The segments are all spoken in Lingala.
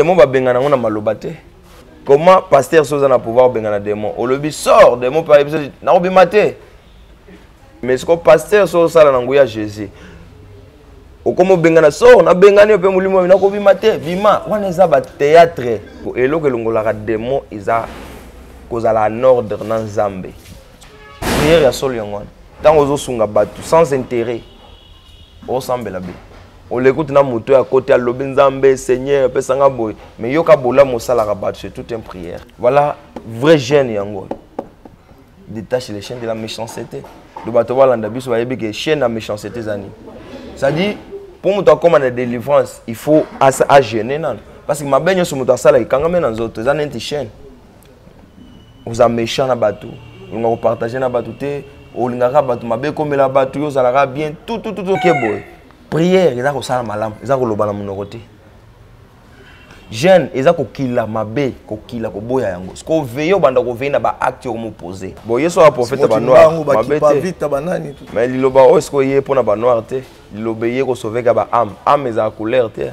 demo babengana yango na maloba te comment pasteur soza na pouvoir obengana demo olobi sort demo mpe ayebi soki nakobima te mais siko pasteur so osala na nguya jésus okoma obengana sort nabengani yo mpe molimo oyo nakobima te bima wana eza bateatre eloko elongolaka demo eza kozala en ordre na nzambe priere ya solo yango wana ntango ozosunga bato sans intérêt osambela bino olekuti na moto ya kote alobi nzambe seigneur pesanga boye mais yoka bolamu osalaka bato c'est toute une prière voilà vrai jeune yango oyo détache les chaînes de la méchanceté do bato balanda biso bayebi ke chaîne ya méchanceté eza nini c'est-à-dire mpo moto akóma na délivrance il faut agene nano parce que mabe nyonso moto asalaka ekangami na nzoto eza neti chaîne oza méchant na bato olinga kopartage na bato te olingaka bato mabe ekomela bato yo ozalaka bien tutututoke boye prière eza kosala malamu eza koloba na monoko te jeune eza kokila mabe kokila koboya yango siko veye obanda koveye na baacte okomopose bo yesu oya profete banoirmais liloba oyo sikoye mpo na banoir te liloba eye kosoveka baame ame ezala couleur te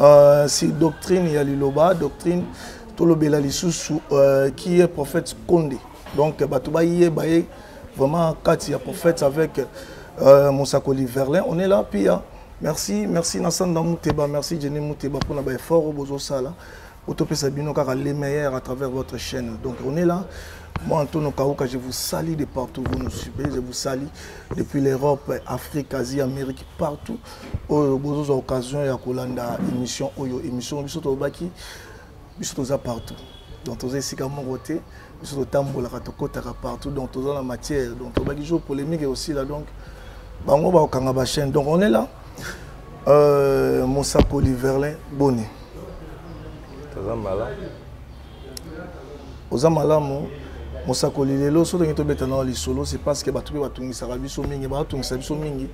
euh, si doctrine ya liloba doctrine tolobela lisusu euh, qui est prophète konde donc bato bayeba ye vraiment kati ya prophète avec euh, mosakoli verlin on est là pia merci merci na sanda muteba merci jenny muteba mpona baeffort oyo bozosala otopesa bino kaka les meilleurs à travers votre chaîne donc on est là moi Antonio Kauka je vous salue de partout vous nous suivez je vous salue depuis l'Europe Afrique Asie Amérique partout oyo oh, bozoza occasion ya kolanda émission oyo oh, émission biso tolobaki biso toza partout donc toza esika moko te biso totambolaka tokotaka partout donc toza na matière donc tolobaki jour polémique aussi là donc bango bakokanga bachaîne donc on est là Euh, mosakoli verlin boni toza malamu oza malamu mosakoli lelo so ndenge tobeta nao lisolo c'est parce que bato mpe batungisaka biso mingi baatungisa biso mingi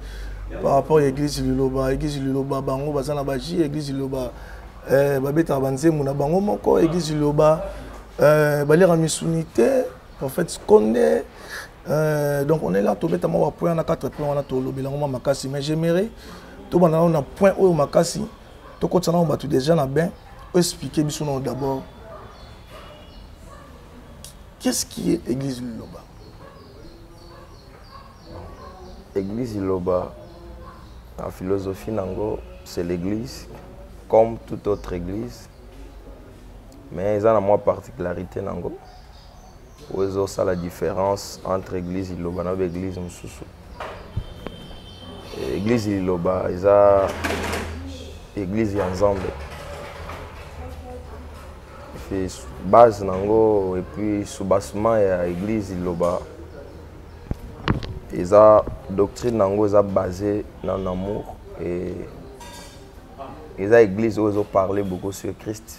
par rapport ya église liloba église liloba bango baza na baji église liloba eh, babetaka banzembo na bango moko église liloba eh, baliaka misuni te prophète skonde Euh, donc on est là tobeta mwa bapoint wana 4 point wana tolobela yango mwa makasi mais j'aimerais tobanda nano na point oyo makasi tokotisa nano bato déjà na bain oexplike biso nano d'abord qu'est-ce qui est église liloba église liloba na philosophie nango c'est l'église comme toute autre église mais eza na mwa particularité nango oyo ezosala différence entre église liloba na baeglise mosusu église liloba eza église ya nzambe base na yango epuis soubassement ya église liloba eza doctrine na yango eza base na amour e eza église oyo ezoparle beaucoup sur christ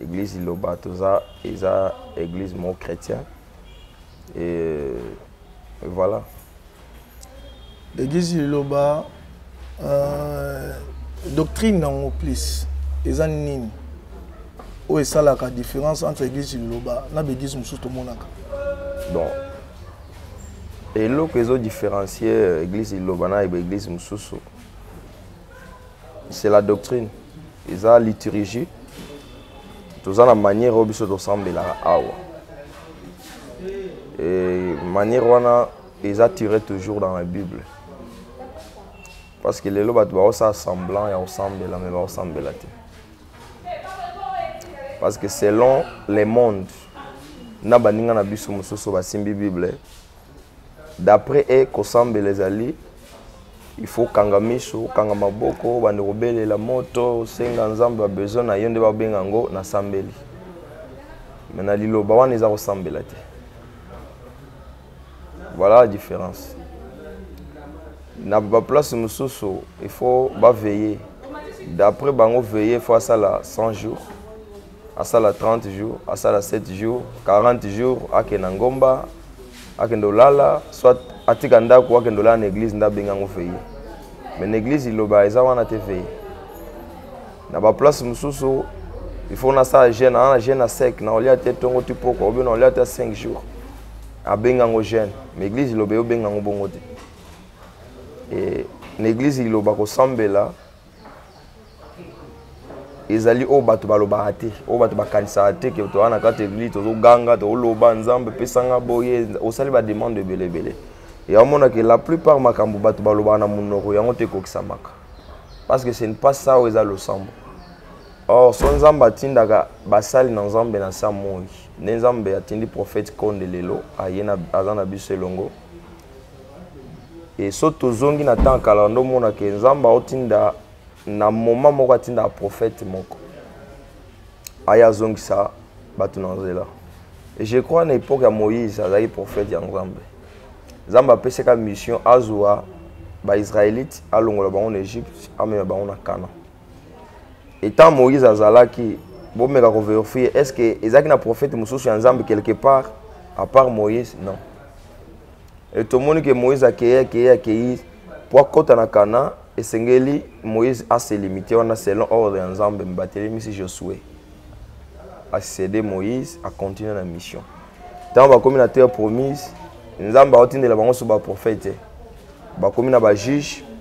Eglise Liloba toza eza eglise moko chrétien et voilà. Eglise Liloba euh, doctrine nango plus eza nini oyo esalaka différence entre eglise Liloba na baeglise mosusu tomonaka? Bon eloko ezo différencier euh, eglise Liloba na baeglise mosusu c'est la doctrine eza liturgie toza na manière oyo biso tosambelaka awa e manière wana eza tiré toujours dans la bible parce que lelo bato baosala semblant ya kosambela me baosambela te parce que selon le monde na baninga na biso mosusu basimbi bible d'après e kosambela ezali il faut kanga miso kanga maboko bande kobelela moto senga nzambe ba besoin na yo nde babenga yango nasambeli me na liloba wana eza kosambela te voilà la différence na baplace mosusu il faut baveille d'après bango veille faut asala 100 jours asala 30 jours asala 7 jours 40 jours akende na ngomba akende olala soit atika ndako akende olala na église nde abengi yango feye mais na église liloba eza wana te feye na baplace mosusu il faut nasala jeune ana na jeune ya sec na olia te ntongo ti poko obe na olia te 5 jours abengi yango jeune mais église liloba eyobengi yango bongo te na église liloba kosambela ezali oyo bato balobaka te oyo bato bakanisaka te ke toza na kati eglise tozoganga tozoloba nzambe pesanga boye osali bademande ebele ebele ya omonake la plupart makambo bato balobaka na monoko yango te ekokisamaka parce que ce n'est pas ça oyo eza losambo or so nzambe atindaka basali na nzambe na sa moi nde nzambe atindi prophète konde lelo aye aza na biso elongo e so tozongi na ntango kala ndo omonaka nzambe aotinda na moma moko atindaka prophète moko aya azongisa bato na nzela e je crois na époque ya moïse azalaki prophète ya nzambe nzambe apesaka mission azwa baisraélite alongola bango na égypte amema bango na canaan etant moïse azalaki bomeka koverifie est ce que ezalaki na prophète mosusu ya nzambe quelque part à part moïse non e tomoni ke moïse akei akei akei mpo akɔta na kana esengeli moïse aselimite wana selon ordre ya nzambe mbatelemisi josue asede moïse acontinue na mission ntango bakomi na terre promise nzambe aotindela bango so baprofete bakomi na bajuge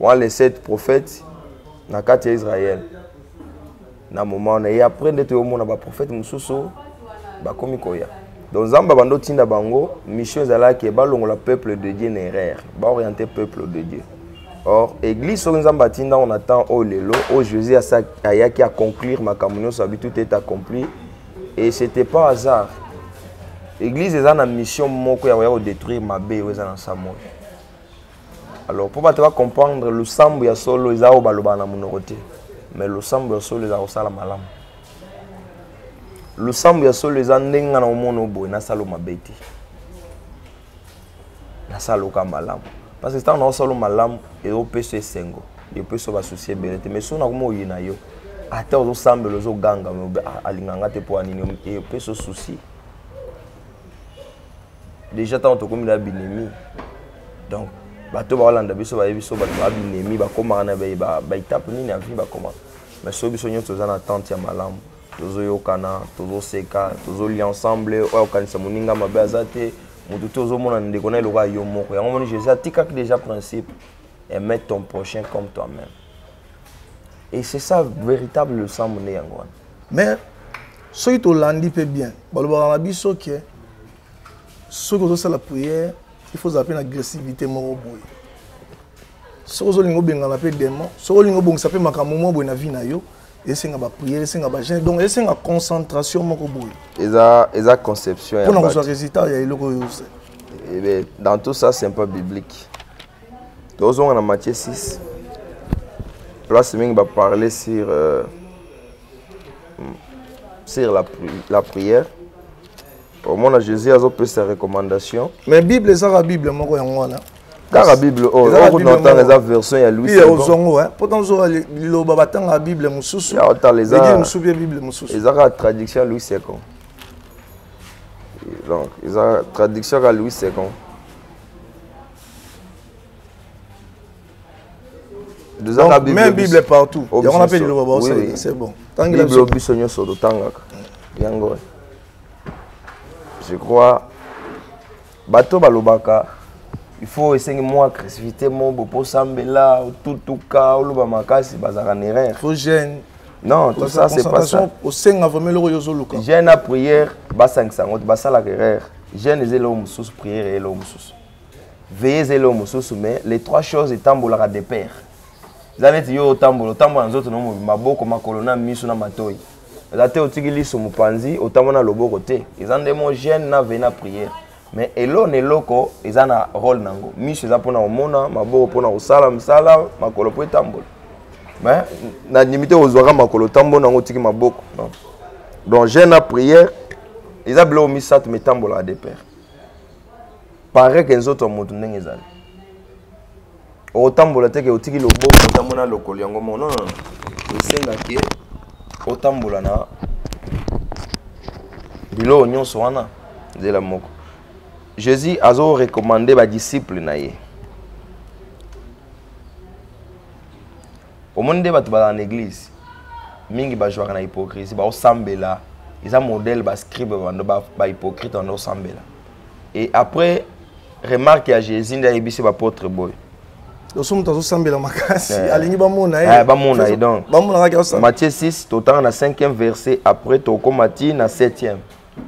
wana les sept prophètes na kati ya israel na moma wana e après nde toyomona baprofete mosusu bakomi koya donc nzambe abanda otinda bango mission ezalaki balongola peuple de dieu na erreur baoriente peuple de dieu or église soki nzambe atinda ngo na temps oyo lelo oyo jésus ayaki aconclure makambo nyonso abi tout est accompli et c'était pas hasard église eza na mission moko ya koya kodétruire mabe oyo eza na nsambo oyo alors mpo bato bacomprendre losambo ya solo eza oyo balobaka na monoko te mais losambo ya solo eza kosala malamu losambo ya solo eza ndenge nga na omona oboye nasala mabe te nasala oka malamu parce que ntango naosala malamu eopesa esengo epesa basusi ebele te mais soki nakoma oye na yo ata ozosambela ozoganga ah, alinga nga te mpo anini epesa susi deja ntango tokomi na binemi donc bato baolanda biso bayebi biso bato ba binemi bakomaka na baetape nini ya vie bakomaka mais so biso nyonso toza na tante ya malamu tozoyokana tozoseka tozolia ensemble oyo akokanisa moninga mabe aza te motu te ozomona ndeko na eloko ya yo moko yango moni jésus atikaki déjà principe aimer ton prochain comme toi-même et c'est ça véritable losambo nde yango wana mais soki tolandi mpe bien balobaka na biso ke soki ozosala prière il faut ozala mpe na agressivité moko boye soki ozolinga obengana mpe demon soki olinga obongisa mpe makambo moko boye na vie na yo esenga bapriere esenga bagene donc esenga concentration moko boye eza, eza conception mpona kozwa résultat ya eloko oyo ose eh dans tout ça c'est un peu biblique tozonga na matie 6 place mingi baparle sur euh, sur la, pri la prière omona jésus azopesa recommandation mais bible ezaka bible moko yango wana kaka bible oyo oh, okuna otanga eza version ya louis ya ozongo mpo tanzoka liloba batangaka bible mosusu egile mosusu mpe bible mosusu eza kaka traduction ya louis second donc eza traduction kaka louis second tozaka bible bible partout oh, yango na mpe liloba baosalela c'est bon tangela biso biso nyonso totangaka yango je crois bato balobaka il faut esengi mwa agressivité mo boposambela otutuka oloba makasi bazalaka na erreur faut gêne non tout ça c'est pas ça osenga vraiment eloko yo ozoluka gêne na prière basangisa yango te basalaka erreur gêne eza eloko mosusu prière eza eloko mosusu veillez elo mosusu mais les trois choses etambolaka de père eza neti yo otambola otambola na nzoto na mobimba maboko makolo na miso na matoi eza te otiki liso mopanzi otambola na loboko te eza nde mo gene na vei na priere mais elo na eloko eza na role na yango miso eza mpona komona maboko mpona kosala mosala makolo mpo etambola mais na ndimi te ozwaka makolo otambola na yango otiki maboko donc gene na priere eza biloko misato mitambolaka de père pare ke nzoto ya moto ndenge ezali otambola te ke otiki loboko otambo na lokolo yango moko non non esenga ke otambola na biloko nyonso wana nzela moko jésus azo recommande badisciple na ye omoni nde bato bazala na eglise mingi bajouaka na hypocrisie baosambela eza modèle bascribe bando bahypocrite bando osambela et après remarque ya jésus nde ayebisi bapotre boye loso moto azosambela makasi eh. alingi bamona ye eh, bamona ye donc bamonaka matthieu 6 totanga na 5e verset après tokoma ti na 7e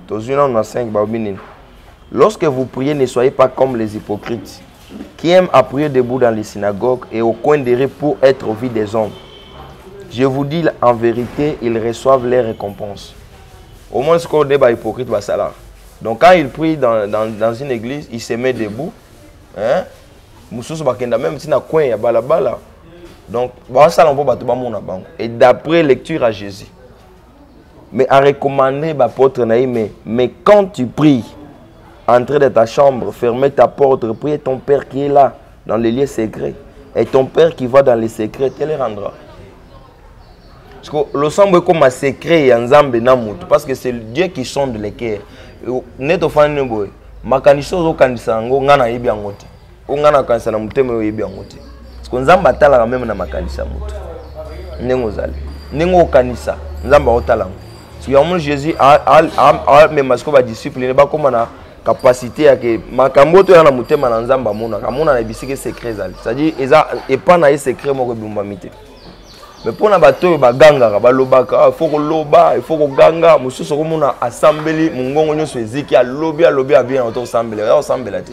tozwi nano na 5 baobi nini lorsque vous priez ne soyez pas comme les hypocrites qui aiment à prier debout dans les synagogues et au coin des rues pour être au vu des hommes je vous dis en vérité ils reçoivent leur récompense au moins sikoyo nde bahypocrite basalaka donc quand ils prient dans, dans, dans une église ils se met debout hein? mosusu bakenda meme ti na coin ya balabala donc basala mpo bato bamona bango et d'après lecture à jésus mais a recommandé bapôtre na ye mais, mais quand tu pries entrer dans ta chambre fermer ta porte prie ton père qui est là dans les lieux secrets et ton père qui va dans les secrets te le rendra parce que losambo ekoma secret ya nzambe na moto parce que c'est dieu qui sonde le cœur nde tofandi ne boye makanisi ozokanisa yango ngai nayebi yango te o ngai nakanisa na motema oyo oyebi yango te siko nzambe atalaka meme na makanisi ya moto ndenge ozali ndenge okanisa nzambe aotala yango siko yango moni jésus amema siko badisciple ne bakóma na capacité ya ke makambo oyo toya na motema na nzambe amonaka amonana ebisika secret ezali c'est-à-dire eza epa na ye secret moko ebumbami te mais mpo na bato oyo bagangaka balobaka ah, ifo koloba ifo koganga mosusu okomona asambeli mongongo nyonso eziki alobi alobi abina otokosambela ya osambela te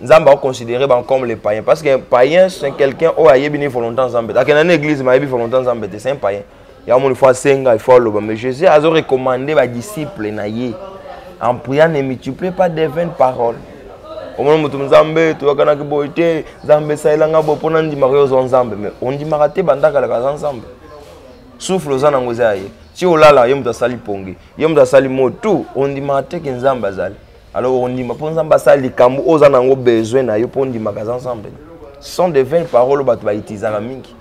nzambe akoconsidere bango comme les païens parce que païen c'est quelqu'un oyo ayebi ni volontan nzambe te akenda na église ma ayebi volontan nzambe te c'est un païen yango moni fo asenga ifo aloba mais jésus azo recommande badisciple na ye en priant ne multiplie pas des vaines paroles omona moto nzambe toyakanaki boye te nzambe esalelanga boye mpo nandimaka yo ozwa nzambe mais ondimaka te bandakalaka aza nzambe souffle oza nango eza ya ye ti olala ye moto asali pongi ye moto asali motu ondimaka te ke nzambe azali alors ondima mpo nzambe asala likambo oyo oza nango besoin na yo mpo ondimaka aza nzambe sont de vaine parole oyo bato baitizaka mingi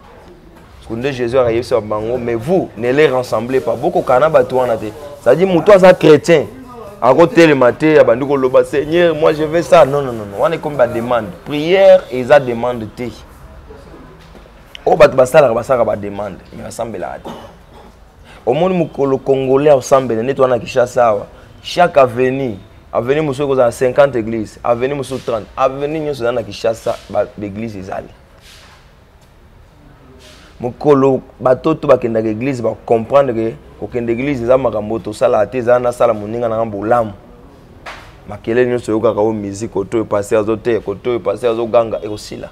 parceke nde jésus akayebisa bango mais vous ne les rassemble pas bokokana na bato wana te cetadire moto aza chrétien akotelema te abandi koloba seigneur moi je vais ça non non non wana ekomi bademande prière eza demande te oyo bato basalaka basalaka bademande mais basambelaka te omoni mokolo congolais aosambela neti wana na kishasa awa chaque avenue avenue mosusu ekozala 50 église avenue mosusu 30 avenue nyonso eza na kishasa baeglise ezali mokolo bato to bakendaka eglise bacomprendre ke kokenda eglise eza makambo tosalaka te eza nasala moninga nanga bolamu makelele nyonso oyokaka oyo musique koto oyo paster azoteya koto oyo paster azoganga ekosila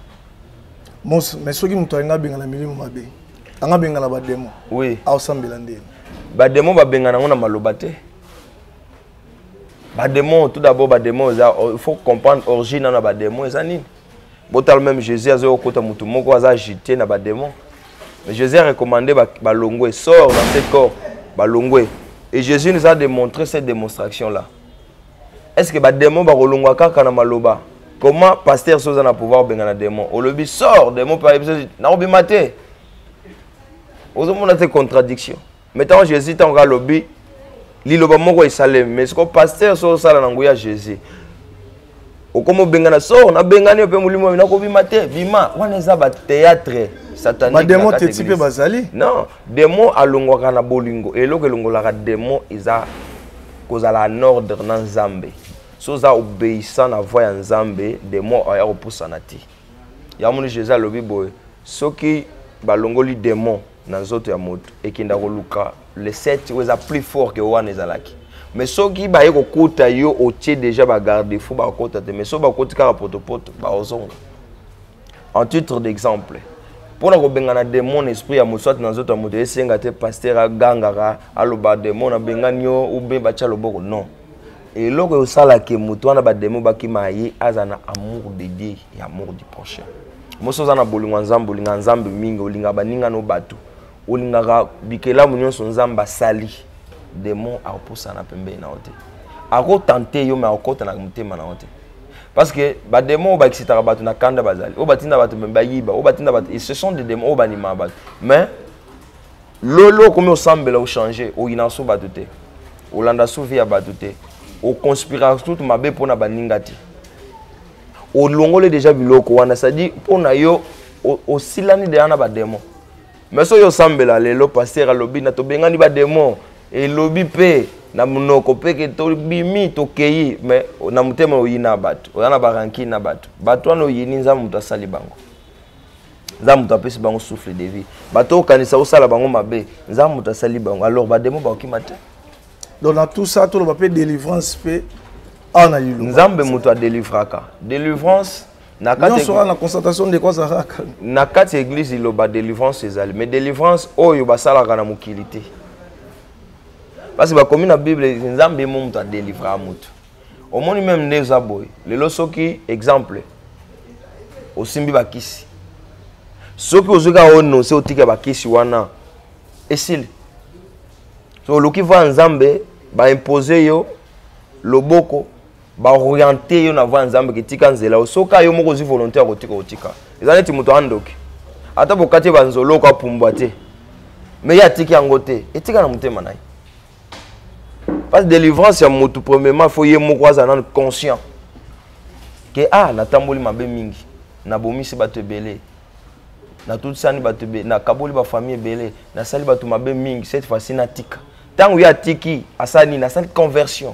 mos mais soki moto alinga abengana milimo mabe anga abengana bademo oui. aosambela ndeni bademo babengana yango na maloba te bademo tout d'abord bademo eza il faut comprendre origine na bademo eza nini botala même jésus azoya kokota motu moko aza agité na bademo mais jésus a recommandé balongwe ba sort dans ce corps balongwe et jésus nous a démontré cette démonstration là est ce que ba démon ba kolongwa kaka na maloba comment pasteur so oza na pouvoir benga na démon olobi sort démon pa biso na obima te ozo mona te contradiction mais tant Jésus tant ka lobi liloba moko esalemi mais siko pasteur so osala na nguya Jésus okomi obengana sor nabengani mpe molimo oyo nakobima te bima wana eza bateatre satanique bademo teti mpe bazali non Demo alongwaka na bolingo. Eloko elongolaka demo eza kozala en ordre na Nzambe. So oza obéissant na voix ya Nzambe, demo aya kopusana te. Ya moni Jésus alobi boye, soki balongoli demo na nzoto ya moto ekenda koluka le 7 oyo eza plus fort que wana ezalaki. Mais soki baye kokuta yo otie déjà ba garde-fou bakokota te. Mais soki bakoti kaka potopoto bakozonga. en titre d'exemple mpo na kobengana demon na esprit ya moto soit na nzoto ya moto esenga te paster agangaka aloba demon abengani yo oubien batya loboko non eloko eosalake moto wana bademo bakima ye aza na amour de dieu ya amour du prochain mosi oza na bolingo ya nzambe olingaka nzambe mingi olingaka baninga no bato olingaka bikelamu nyonso nzambe asali demon akopusana pembeni na yo te akotante yo me akokota na motema na yo te parce que ba démons ba excitaka batu na kanda bazali o batinda batu me bayiba o batinda batu ce sont des démons o banima batu mais lolo okomi osambela ochange oyina so batu te olanda so vie ya batu te oconspira tout mabe mpo na baninga te olongoli deja biloko wana c'est-à-dire mpo na yo osilani deja na bademo mais soki osambela lelo paster alobi na tobengani bademon elobi mpe na monoko mpe ke tobimi tokei mais na motema oyina bato oza na barankine na bato bato wana oyini nzambe moto asali bango nzambe moto apesi bango souffle de vie bato okanisa osala bango mabe nzambe moto asali bango alors bademo bakokima te donc na tout ça toloba mpe délivrance mpe awa na liloba nzambe moto adelivraka délivrance na kati na constatation ndeko azalaka na kati ya église liloba délivrance ezali mais délivrance oyo basalaka na mokili te parce bakomi na bible nzambe mo moto adelivraa moto omoni meme nde eza boye lelo soki exemple osimbi bakisi soki ozwi kaka onose otika bakisi wana esili so oluki va nzambe baimpose yo loboko baoriente yo na voi ya nzambe kitika nzela yo soki yo moko ozwi volonté ya kotika otika eza neti moto andoki ata bokati banzoloko apumbwa te me ye atiki yango te etika na motema na ye parce délivrance ya motu premièrement fo ye moko azala nanu conscient ke ah natamboli mabe mingi nabomisi bato ebele natutisani bato ebele nakaboli bafamille ebele nasali bato mabe mingi cette fois-ci natika ntango ye atiki asali nini asali conversion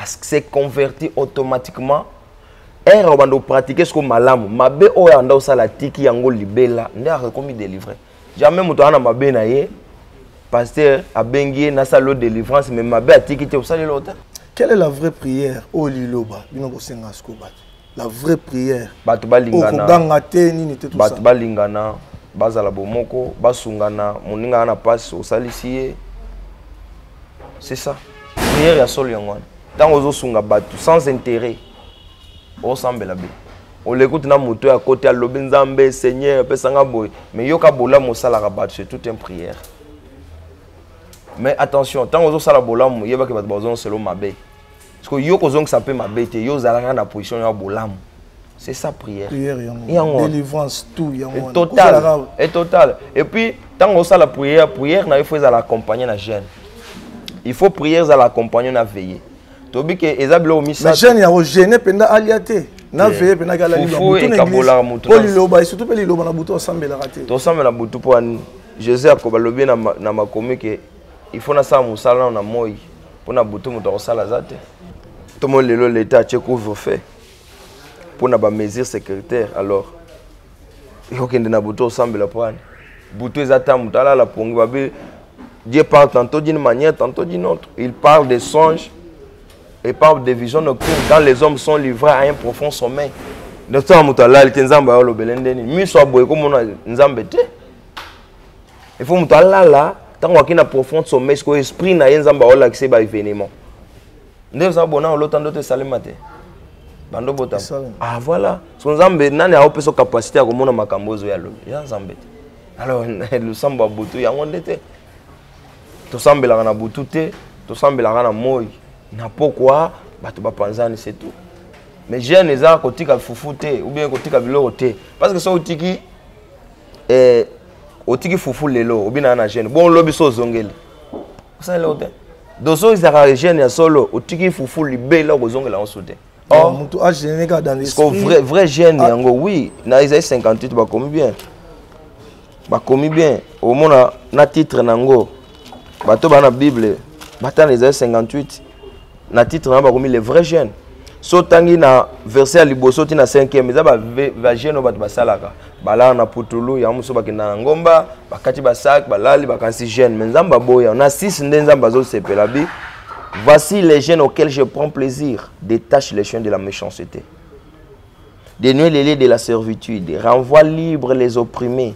se converti automatiquement ere obanda opratike soko malamu mabe oyo anda osala atiki yango libela nde akomi delivre jamais moto aza na mabe na ye pasteur abengi ye nasala yo délivrance mais mabe atiki te osaleli yo te quelle est la vraie prière oyo liloba bino bosenga sikoyo bato la vraie prière bato balingana okoganga te nini te bato balingana bazala bomoko basungana moninga na pasi osalisi ye c'est ça prière ya solo yango wana ntango ozosunga bato sans intérêt osambela be oleki kuti na moto ya kote alobi nzambe seigneur pesanga boye mais yoka bolamu osalaka bato c'est tout un prière mais attention ntango ozosala bolamu yebaki bato bazonga selo mabe siko yo kozongisa mpe mabe te yo ozalaka na position ya bolamu c'est ça prière prière yango délivrance tout yango total et total et puis ntango osala prière prière na yo faut ezala accompagner na jeune il faut prière ezala accompagner na veiller tobi ke eza biloko misato jeune yango gene mpenza alia te na veye mpe nakala lilobaekabolaka motu mpo liloba e surtout mpe liloba na butu asambelaka te tosambela butu mpo ani joseph akoba lobi na makomi ke il faut nasala mosala nano na moi mpo na butu moto akosala aza te tomo lelo leta atie couvre feu mpo na bamesure sécuritaire alors okende na butu osambela mpo ani butu eza ta moto alala pongi babe dieu parle tantôt d'une manière tantôt d'une autre il parle des songes et parle des visions nocturnes quand les hommes sont livrés à un profond sommeil donc ntango moto alali te nzambe ayolobele nde nini miso aboye komona nzambe te il faut moto alala ntango akei na profond sommeil sikoyo esprit na ye nzambe aolakisa ye ba événement nde oza bona olota ndoto esalema te bando bota ah voilà so nzambe nani aopesa capacité ya komona makambo oyo ozoya lobi ya nzambe te alors losambo ya butu yango nde te tosambelaka na butu te tosambelaka na moi na pokwa bato bapanzani se tout mais jeune eza kotika fufu te ou bien kotika biloko te parce que soki otiki eh, otiki fufu lelo obinaka na jeune bon lobi so ozongeli osala eloko te dozongisaka jeune ya solo otiki fufu libela okozongela yango so te oh. motu agene kaka dans l'esprit vrai jeune ah. yango oui na ezali 58 bakomi bien bakomi bien omona na titre na yango bato baa na bible batana ezali 58 na titre na bakomi le vrai jeune so otangi na verset ya liboso ti na 5e eza bajeune oyo bato basalaka balala na putulu yango mosusu bakenda na ngomba bakati basak balali bakanisi jeune mais nzambe aboya na 6 nde nzambe azosepela bi voici les jeunes auxquels je prends plaisir détache les chiens de la méchanceté dénue les lieux de la servitude renvoie libre les opprimés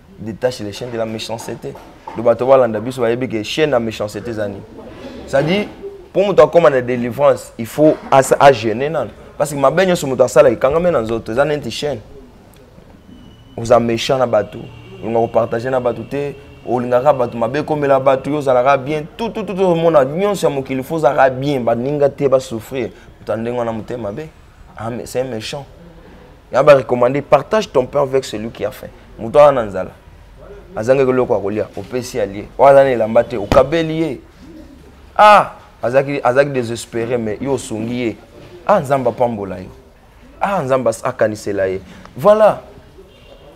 détache les chaînes de la méchanceté donc bato balanda biso bayebi ke chaîne ya méchanceté eza nini c'est-à-dire mpo moto akóma na délivrance il faut agene nano parce que mabe nyonso moto asalaka ekangami na nzoto eza neti chaîne oza méchant na bato olinga kopartage na bato te olingaka bato mabe ekomela bato yo ozalaka bien tututu omona nyonso ya mokili fo ozalaka bien baninga te basouffrir moto ya ndenge wana motema mabe ah, c'est méchant na ba recommandé partage ton pain avec celui qui a faim moto wana na nzala azangaki eloko ya kolia opesi ya lie oyo aza na elamba te okabeli ye ah azalaki azalaki désespéré mais yo osungi ye ah nzambe apambola yo ah nzambe akanisela ye voilà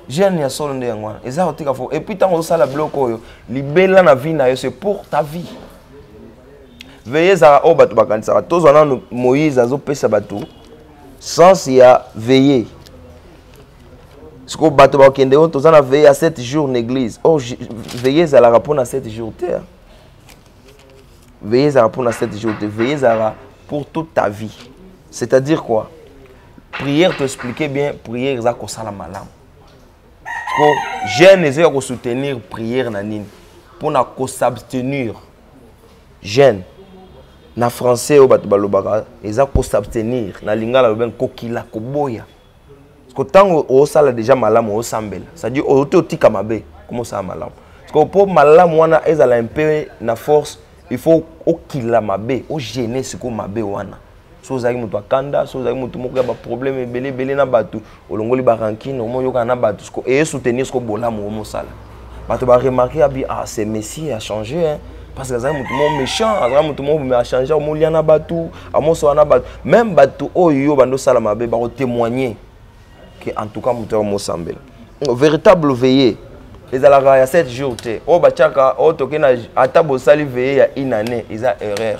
jeune ya solo nde yango wana eza kotika fo epuis ntango ozosala biloko oyo libela na vie na yo c'est pour ta vie veye ezalaka oyo bato bakanisaka tozwa nano moïse azopesa bato sens ya veille sikoyo bato bakokende oyo toza na veille ya 7 jours na église or veille ezalaka mpo na 7 jours te veille ezalaka mpo na 7 jours te veille ezalaka pour toute ta vie c'est à dire quoi prière toexplike bien prière eza kosala malamu ko jeune ezoya kosoutenir prière na nini mpo na kosabstenir jeune na français oyo bato balobaka eza kosabstenir na lingala lobengi kokila koboya ko ntango osala deja malamu osambela cestadire oyote otika mabe koma osala malamu sikoyo mpo malamu wana ezala mpe na force il faut okila mabe ogene sikoyo mabe wana so ozalaki moto ya kanda so ozalaki moto moko ya baproblème ebele ebele na bato olongoli barankine omoyokana na bato siko eye soutenir siko bolamu omosala bato baremarke abi ah ce messie a change hein? parce que azalaki moto moko méchant azalaki moto moko me achange omolia na bato amosola na bato même bato oyo yo bando osala mabe bakotémoigne ke en tout cas moto yao mosambela véritable veillée ezalaka ya 7 jours te oyo batiaka oyo toke na ata bosali veillée ya une année eza erreur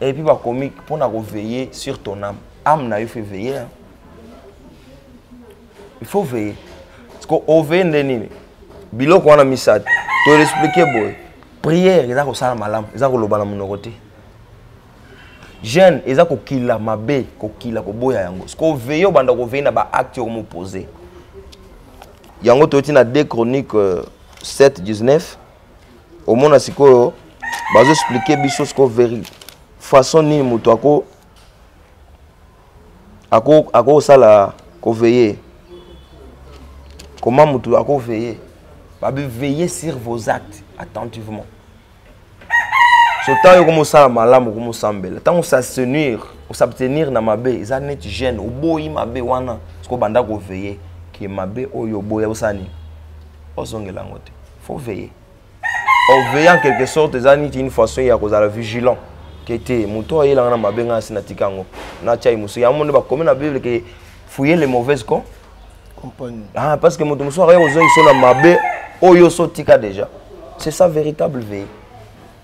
et puis bakomi mpo na koveille sur ton âme âme na yo faut veiller hein? il faut veiller parce que oveille nde nini biloko wana misato toexplike boye prière eza kosala malamu eza koloba na monoko te jeune eza kokila mabe kokila koboya yango sikoyo veille obanda koveille na baacte okomopose yango toyoti na 2 chronique 7 19 omona sikoyo bazo expliquer biso sikoyo veri façon nini moto ako ako akosala koveye comment moto akoveye babi veiller sur vos actes attentivement so ntango yoko mosala malamu okomosambela ntango osasenir osabtenir na mabe eza neti gene oboyi mabe wana soki obanda koveye ke mabe oyo oboya osala nini ozongela yango te faut veiller en veillant en quelque sorte eza niti une façon ya kozala vigilant ke te moto oyo ayelanga na mabe ngai asi natika yango natya ye mosusu yango nde bakomi na bible ke fouiller les mauvaises con ah, parce que moto mosusu akaya kozongisa na mabe oyo oso otika déjà c'est ça véritable veille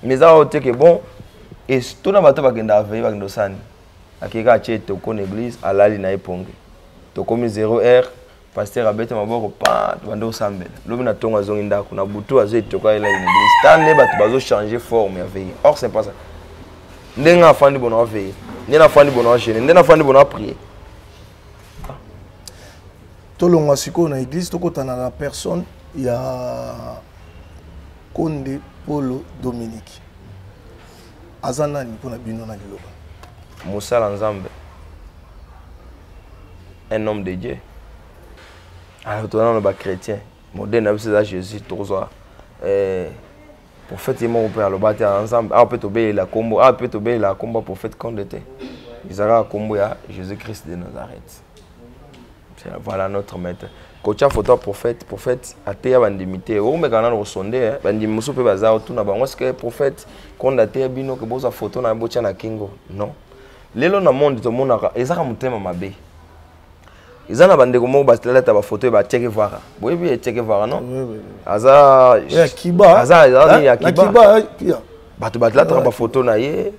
mais eza oyo te ke bon tona bato bakendaka veille bakenda osani akeka atye toko na église alali na ye pongi tokomi 0 heure pasteur abete maboko pa tobande kosambela lobi na ntongo azongi ndako na butu azo etoka elalini stande bato bazochange forme ya veye or c'est pas ça ndenge afandi bona aveye nde nafandi bona agene nde nafandi bona aprie tolongwa sikoyo na église tokotana na personne ya konde polo dominique aza nani mpo na bino na liloba mosala nzambe un homme de dieu alors toza nano bachrétien modele na biso eza jésus tokozwa eh, prophète ye moko mpe aloba te ya nzambe awa mpe tobelela nkombo awa mpe tobelela nkombo ya prophète konde te ezalaka nkombo ya jésus christ de nazareth voilà notre maître kotya foto ya prophète prophète ateya bandimi te okomeka nano kosonde eh. bandimi mosusu mpe baza otuna bango sike prophète konde ateya bino ke bozwa foto na botya na kingo non lelo na monde tomonaka ezaka motema mabe eza na bandeko moko batalata bafoto ya bacheke vara boyebi echeke vara non aza aza ya kiba bato batalataka bafoto na ye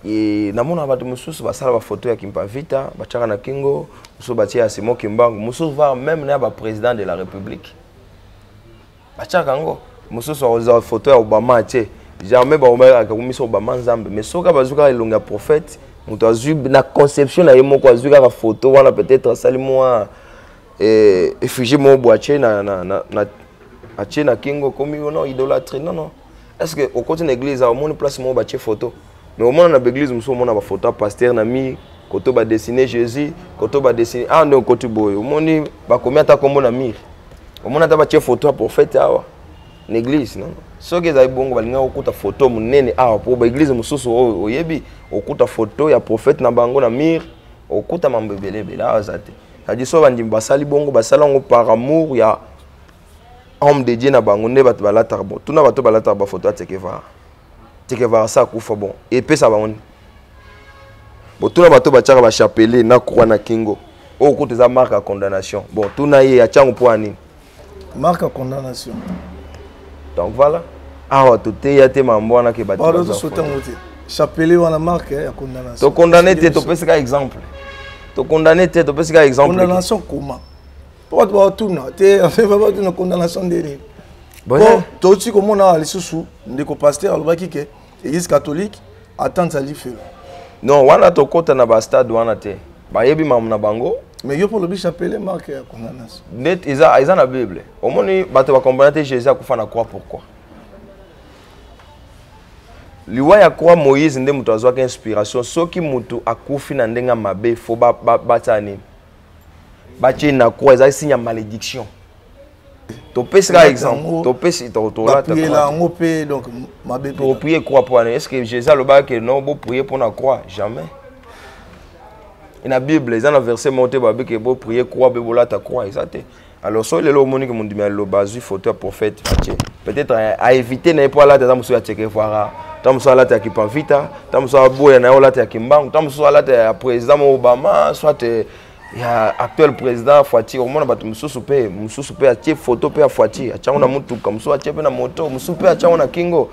E, namona bato mosusu basala bafoto ya kimpavita batyaka na kingo mosusu batye ya simo kimbangu mosusu var meme na ya baprésident de la république batyaka yango mosusu akozwa foto ya obama atye jamais baomaakakumisa obama nzambe mais soki bazwi kaka elongi ya prophète moto azwi na conception na ye moko azwi kaka foto wana peut-être asali mwa eh, effugie moko boye atye na, na, na, na, atye na kingo ekomi ono idolatrie non non est ce que okoti na église awa omoni place moko batie photo mais omona na baeglise mosusu omona baphoto ya paster na mi koto badessine jésus koto badessine awa ah, nde okoti boye omoni bakomi ata nkombo na mire omoni ata batie photo ya prophète awa na église non soki ezali bongo balingaki kokuta photo monene awa mpo baeglise mosusu oyo oyebi okuta photo ya prophète na bango na mire okuta mambo ebele ebele awa eza te cadi so bandimi basali bongo basali yango par amour ya homme de dieu na bango nde bato balataka bon tuna bato balataka bafoto ya tekevara tekevara sa akufa bon epesa bango nini botuna bato batiaka bachapele na croix na kingo oyo oh, kutu eza marque ya condamnation bon tuna ye atyango mpo ya nini marque ya condamnation donc voilà awa toteya te mambo wana ke batosotango te chapele wana marque ya condamnation tokondane te topesi ka exemple tokondane te topesi ka exemple condamnation comment mpo bato baotuna te baotuna condamnation nde nini po touti komona awa lisusu ndeko paster alobaki ke église catholique atante ali felo non wana tokɔta na bastade wana te bayebi mamu na bango mais yo mpo olobi chapele marke ya condamnation nde eza, eza na bible omoni bato bakomprena te jésus akufa na croix pourquoi liwa ya croix moïse nde moto azwaki inspiration soki moto akufi na ndenge ya mabe fo batyana nini batie na croix ezali signe ya malédiction topesi kaka exemple topesi tolatapriela yango mpe donc mabe toprie croix mpo wana est ce que jésus alobaka ke non boprie mpo na croix jamais na bible eza na verset moko te babe ke boprie croix mpe bolata croix eza te alors soki lelo omoni ke mondimi ya liloba azwi foto ya prophète fatie peut-être aevite na ye mpo alata ata mosusu ya chekevara ntango mosusu alata ya kipavita ntango mosusu aboya na ye olata ya kimbangu ntango mosusu alata ya président mo obama soit eh, ya actuel président fatie okomona bato mosusu mpe mosusu mpe atie foto mpe ya fatie atyango na motuka mosusu atie mpe na moto mosusu mpe atyango na kingo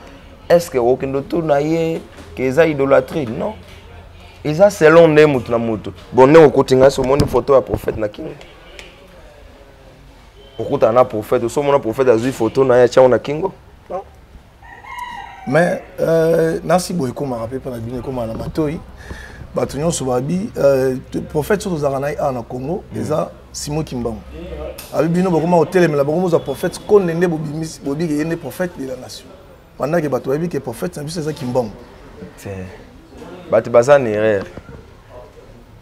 est ce que okende otur na ye ke eza idolatrie non eza selon nde moto na moto bon ndenge okoti ngai so omoni foto ya prophète na kingo okutana na prophète osomona prophète azwi photo na ye atyango na kingo mais euh, nasi boye ekomaka mpe mpo na bino ekomaka na matoi bato nyonso babi euh, prophète soki tozalaka na ye awa na congo mm. eza simo kimbangu abi bino bokoma kotelemela bokomozwa prophète konde nde bobiki ye nde prophète de la nation Pendant que bato bayebi que prophète na biso eza kimbongo. Te. Bato baza na erreur.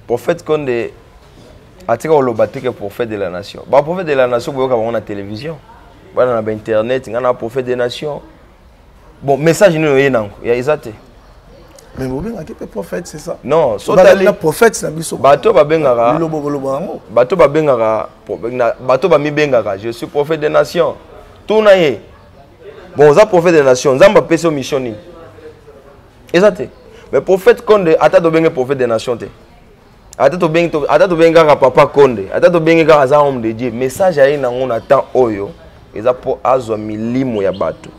Prophète Konde atika koloba te que prophète de la nation. Ba prophète de la nation boyoka bango na télévision. Bana na ba internet, nga na prophète de nation. Bon, message nini oye nango? Ya eza te. Mais bobengaki mpe prophète c'est ça non sotali prophète na biso bato babengaka lilobo koloba yango bato babengaka bato bamibengaka je suis prophète de nation tuna ye bon oza prophète de nation nzambe apesi yo mission nini eza te mais prophète konde ata tobenge prophète de nation te ata tobengi ata tobengi kaka papa konde ata tobengi kaka aza homme de dieu message aye nango na temps oyo eza mpo azwa milimo ya bato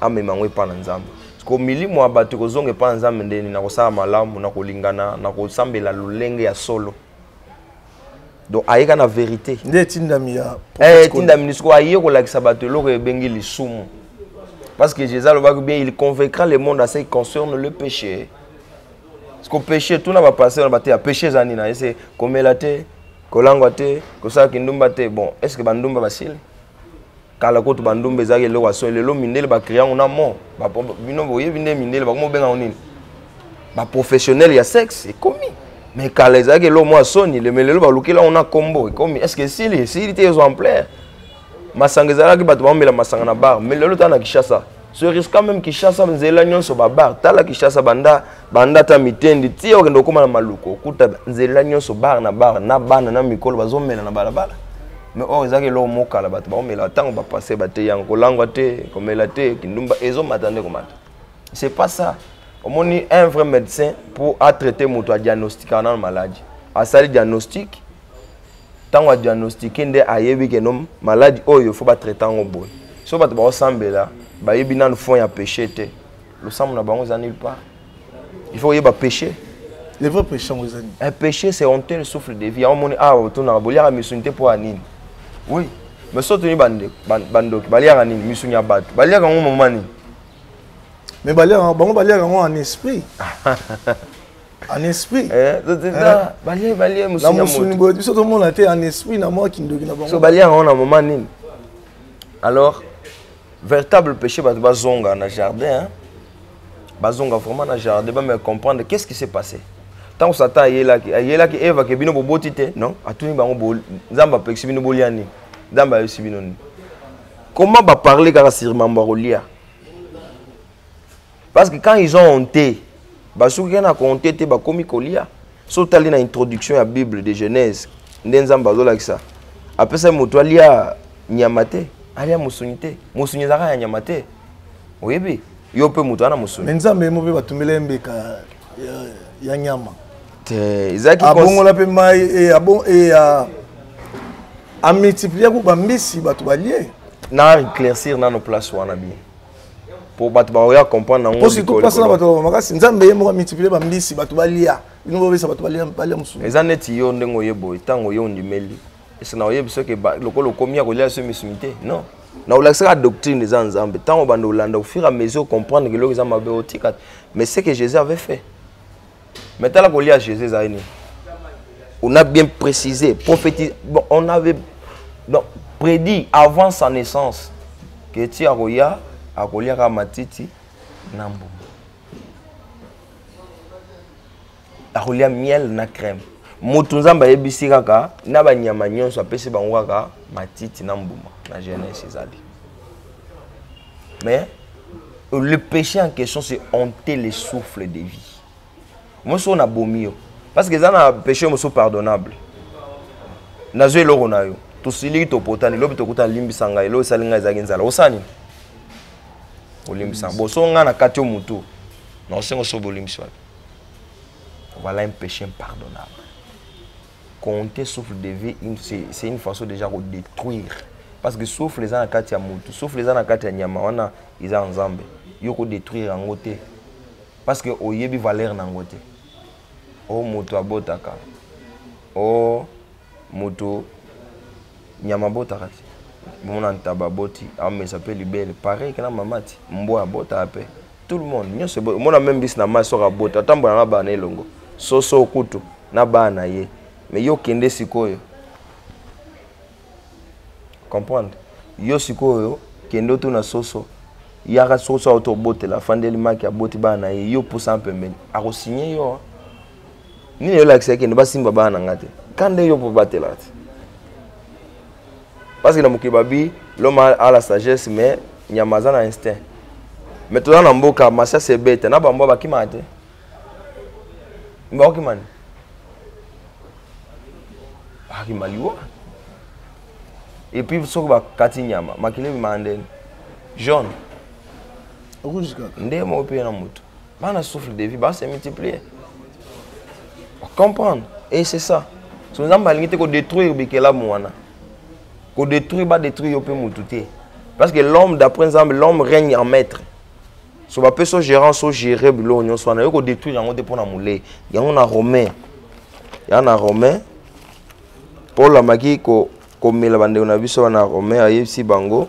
amema yango epai na nzambe ko milimo ya bato ekozonga epai na nzambe ndeni na kosala malamu na kolingana na kosambela lolenge ya solo donc ayeka na verité nde etindami ya eh, etindami lisiko aye kolakisa bato eloko ebengi lisumu parce que jésus alobaki bien il convaincra le monde à ce qui concerne le péché siko péché tuna bapasteur na bateya péché eza nini aye se komela te kolangwa te kosala kindumba te bon est ce que bandumba basili kala kutu bandumba ezalaki eloko ya soni lelo mindele bacrea yango na mo bino boyebi nde mindele bakoma obenga yango nini baprofessionnel ya sexe ekomi me kala ezalaki eloko mwa soni leme lelo balukeli yango na nkombo ekomi estce esili esili te ezo ampleur masanga ezalaki bato baomela masanga na bar me lelo tala na kishasa sur risque même Kishasa nzela nyonso ba bar tala Kishasa banda banda ta mitendi ti okende okoma na maluko okuta nzela nyonso bar na bar na bana na mikolo bazomela na balabala me oyo ezalaki eloko mokala bato baomela ntango bapasse bateyanga kolangwa te komela te kindumba ezomata nde komata c'est pas ça omoni un vrai médecin pour atraite moto adiagnostikaka nano maladi asali diagnostique ntango adiagnostique nde ayebi ke no maladi oyo fo batraite yango boye so bato baosambela bayebi nanu fond ya péché te losambo na bango eza nulle part il faut oyeba péché le vrai péché yango eza nini un péché c'est honteux le souffle de vie yango omoni awa ah, otonaka boliaka misuni te mpo ya nini oui mais so toni bandoki baliaka nini misuni ya bato baliaka yango mama nini mais baliaka bango baliaka yango en esprit en esprit eh, eh. na mosuni boye biso tomona te en esprit na mwa kindoki na bango balia yango na moma nini alors véritable péché bato bazonga na jardin bazonga vraiment na jardin bameka comprendre qu'est ce qui s'est passé ntango satan ayelaki ayelaki eva ke bino boboti te non atuni bango nzambe apekisi bino bolia nini nzambe ayebisi bino nini comment baparle kaka sur mambo ya kolia Parce que quand ils ont honte, basuki na honte te bakomi kolia. So tali na introduction ya Bible de Genèse, nde Nzambe azolakisa. Apesa moto alia nyama te, alia musuni te. Musuni ezaka ya nyama te. Oyebi? Yo pe moto ana musuni. Mais Nzambe mo pe batumbela mbeka ya, ya nyama. Te, ezaki abongola pe mai e eh, abon e eh, a a multiplier ko bambisi bato balie. Na éclaircir nano place wana bien. po bato bakoya comprendre yango po surtout place na bato makasi nzambe ye moko amultiplier bambisi bato balia bino bobesa bato balia mosusu eza neti yo ndenge oye boye ntango oye ondimeli ese na oyebi soki lokola okomi ya kolia so misuni te non na olakisaka doctrine eza nzambe ntango obanda olanda ofur a mesure comprendre ke eloko eza mabe otika mais ce que jésus avait fait Mais tala ko lia Jésus ezali nini? On a bien précisé, prophétisé. Bon, on avait donc prédit avant sa naissance que ti akoya akoliaka matiti na mbuma. akolia miel na crème moto nzambe ayebisi kaka na banyama nyonso apesi bango kaka matiti na mbuma na jeunesse ezali mais le péché en question c'est hanter le souffle de vie moi soki nabomi yo parce que eza na péché mosusu pardonnable nazwi eloko na yo tosiliki topotani lobi tokuta limbisa ngai eloko esali ngai ezalaki nzala osala nini olimbisa bo so ngai nakati yo motu na osengo so bolimbisi wapi voilà un péché impardonnable compter souffle de vie c'est une façon déjà ko détruire parce que souffle eza na kati ya mutu souffle eza na kati ya nyama wana eza ya nzambe yo ko détruire yango te parce que oyebi valeur na yango te o moto abotaka o moto nyama abotaka te bomona ntaba aboti amesa mpe libele pareil kena mama ti mbwa abotaka mpe tout le monde nyonso eboyi omona meme bisi na mai soki abota atambola na bana elongo soso kutu na bana na ye mais yo kende sikoyo comprendre yo sikoyo kende otuna soso yaka soso auto obotela afandeli maki aboti bana na ye yo pusa mpembeni akosigne yo nini elakisa ekende basimba bana na nga te ka nde yo mpo batelaka te parce que na mokili babi l'homme a la sagesse mais nyama aza na instinct mais toza na mboka masias ebeta na bambwa bakimaka te bakokima nini bakima liwa epuis soki bakati nyama makili ebimaka ndeni jaune nde moko mpe na motu bana souffle de vie ba se multiplier comprendre et c'est ça so nzambe alingi te kodétruire bikelamu wana kodétruire badétruire yo mpe motu te parce que l'homme d'après nzambe l'homme règne en maître so bape so gérant so géré biloko nyonso wana yo kodétruire yango te mpo na molei yango na romain ya na romain paul amaki komela bandeko na biso wana romain ayebisi bango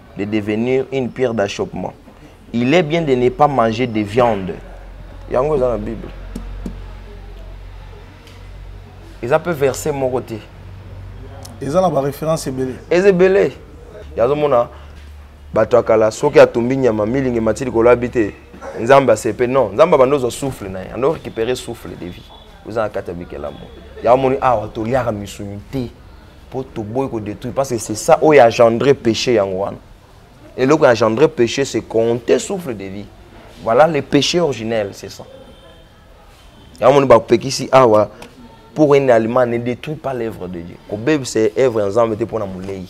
de devenir une pierre d'achoppement il est bien de ne pas manger de viande yango eza na bible eza mpe verset moko te eza na baréférence ebele eza ebele yazomona bato ya kala soki atumbi nyama milingi mati likolo abi te nzambe asepe non nzambe abanda ozwa souffle na ye ando récupérer souffle de vie oza na kati ya bikelamo yango moni awa toliaka misuni te mpo toboyi kodétruire parce que c'est ça oyo agendre péché yango wana eloko ya agendre péché c'est compter souffle de vie voilà le péché originel c'est ça yango moni bapekisi awa pour un aliment ne détruit pas l'œuvre de dieu kobebisa œuvre ya nzambe te mpo na molei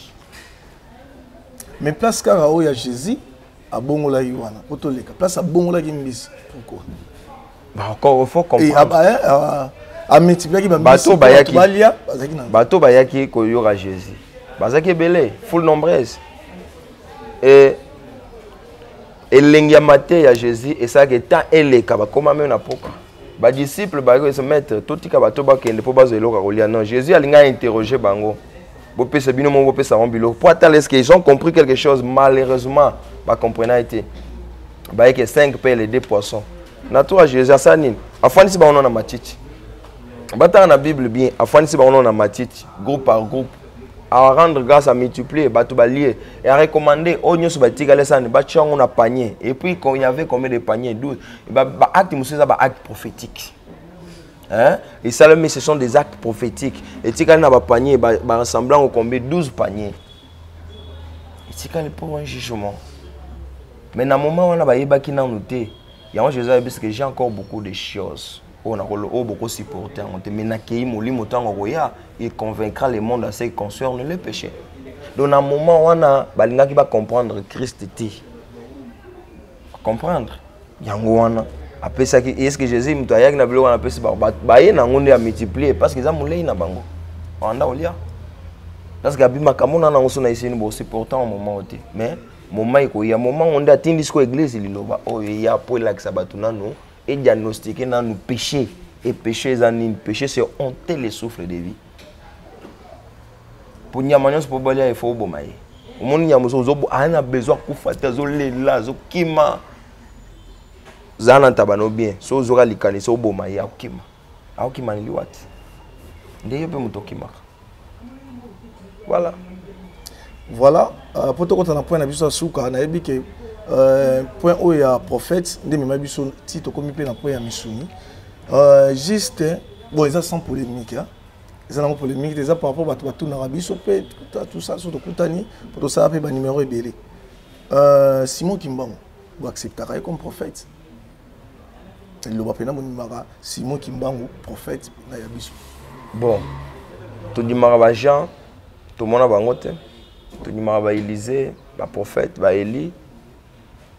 mais place kaka oyo ya jésus abongolaki wana po toleka place abongolaki mbisi pourquoi encore faut comprendre ah, eh, ah, ah, amultipliaki bato bayaki balia bazalaki na bato bayaki koyoka jésus bazalaki ebele full nombreuse e elengi ya mateya ya jésus esalaki ntan eleka bakoma meme na poka badisciple bayokoyesa maître totika bato bakende mpo bazwa eloko ya kolia non jésus alingi ainterroge bango bopesa bino moko bopesa bango biloko mpo atala eske ils ont compris quelque chose malheureusement bacomprena te bayeke 5 pele 2 poisson na tour ya jésus asala nini afandisi bango no na matiti batanga na bible bien afandisi bango no na matiti groupe par groupe a rendre grâce à multiplier bato balie et à recommander oyo nyonso batikali esani batya yango na panier et puis il y avait combien de panier douze baacte mosusu eza baacte prophétique hein? esalami ce sont des actes prophétiques etikali na bapanier barassemble yango combien 12 panier etikali pour un jugement mais na moment wana bayebaki nanu te yango jésus ayebisi que j'ai encore beaucoup de choses oyo nakolo oyo boko supporter yango te mais nakeyi molimo ntango akoya il convaincra le monde à ce qui concerne le péché donc na moment wana balingaki bacomprendre christ te comprendre yango wana apesaki est ce que jésus moto ayaki na biloko wana apesi bango baye na yango nde ya multiplier parce que eza molei na bango banda olia parce que abimaka mona nango so na eseni bosupportant au moment te mais moment ekoya moment ngo nde atindi siko eglise liloba oyo eya mpo elakisa bato nano e diagnostiquer nanu péché et péché eza nini péché c'est honter le souffle de vie mpo nyama nyonso mpo balia efo oboma ye omoni nyama ozo aa na besoin akufa te azolela azokima zala na ntaba no bien so ozoka likanisi oboma ye akokima aokima liwati nde yo mpe moto okimaka voilà voilà euh, mpo tokota na point na biso ya suka nayebi ke euh, point oyo ya prophète nde emema biso ti tokomi mpe na point ya misuni euh, juste bon eza sans polémique hein? eza nango polémique te eza par rapport bato batunaka biso mpe tout ça so tokutani mpo tosala mpe banimero ebele simon kimbango boacceptaka ye comme prophète liloba mpe namondimaka simon kimbangu prophète na ya biso bon tondimaka bajean tomona bango te tondimaka baelise baprophète baeli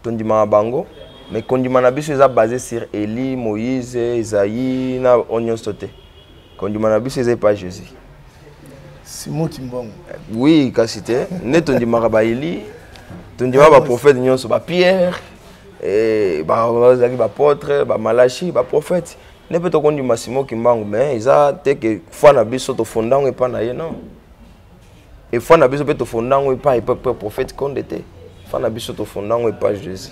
tondimaka bango mais kondima na biso eza basé sur eli moïse esaïe na oyo nyonso te kondima na biso eza epa jésus simo kimbongo oui kasi te nde tondimaka baeli tondimaka baprofete nyonso bapierre eh, bazalaki bapotre bamalachi baprofete nde mpe tokondima simo kimbangu mais eza te ke foi na biso tofonda yango epai na ye non efoi na biso mpe tofonda yango epai epai prophète konde te foi na biso tofonda yango epai jésus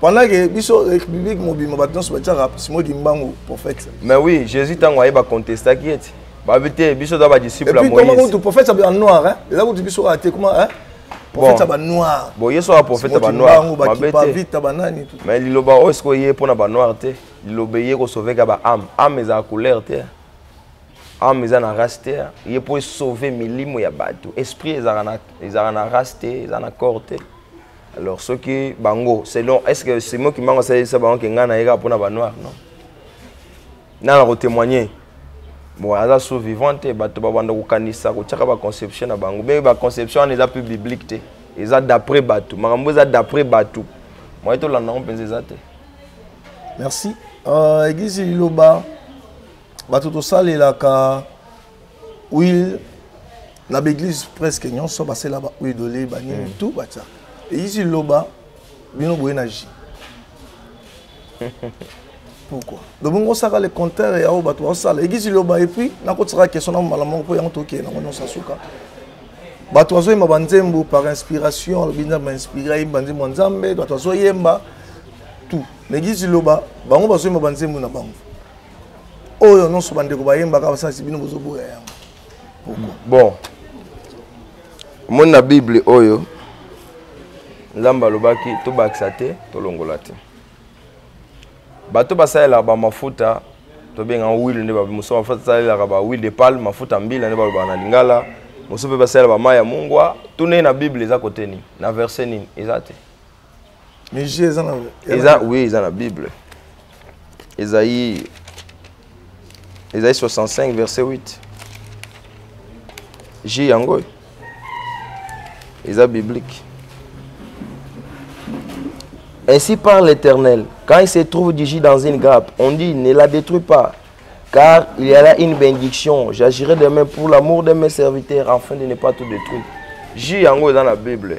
pendant que biso république mobimba bato nyonso batiaka simo kimbangu prophète mais oui jésus ntango aye bacontestaki ye ti babi te biso toza badisciple ya moïse prophète ya banoir hein? eza kutu biso kaka te kuma hein? prophète ya banoir bon ye soka prophète ya banoir mabe te banani mais liloba oyo sikoyo ye mpo na banoir te liloba eye kosoveka ba ame ame ezala couleur te ame eza na race te ye mpo esauve milimo ya bato esprit ezalaka na race te eza na corps te alors soki bango selon est ce que simo kimbangu asalelisa bango ke ngai nayeka mpona banoir non nani akotémoigne bon aza sous vivant te bato babanda kokanisa kotyaka baconception na bango mpe baconception wana eza mpe biblique te eza d'après bato makambo eza d'après bato moye tolanda yango mpenza eza te merci uh, eglise liloba bato tosalelaka wile na baeglise presque nyonso basela ba huile d'olive banini mm. tout batya eyisi loba bino boye na ji pourquoi lobongo osaka le contraire ya oyo bato baosala egisi loba epuis nakotisaka question na mobala moko mpo yango tokeye nango nyonso asuka bato bazoyemba banzembo par inspiration alobi nzambe ainspire ayemba nzembo ya nzambe bato bazoyemba tout na egisi loba bango bazoyemba banzembo na bango oyo nyonso bandeko bayembaka basalisi bino bozoboya yango bon omoni na bible oyo nzambe alobaki tobakisa te tolongola te bato basalelaka bamafuta tobengaka wile nde mosusu mafuta asalelaka ba wile de pale mafuta mbila nde balobaka na lingala mosusu mpe basalela bamai ya mungwa tuna ye na bible eza kote nini na verse nini eza te mais je eza na eza oui eza na bible ezaïe ezaïe 65 verset 8 je yango oyo eza biblique ainsi par l'éternel quand il se trouve du jus dans une grappe on dit ne la détruis pas car il y a là une bénédiction j'agirai demain pour l'amour de mes serviteurs afin de ne pas tout détruire jus yango eza na bible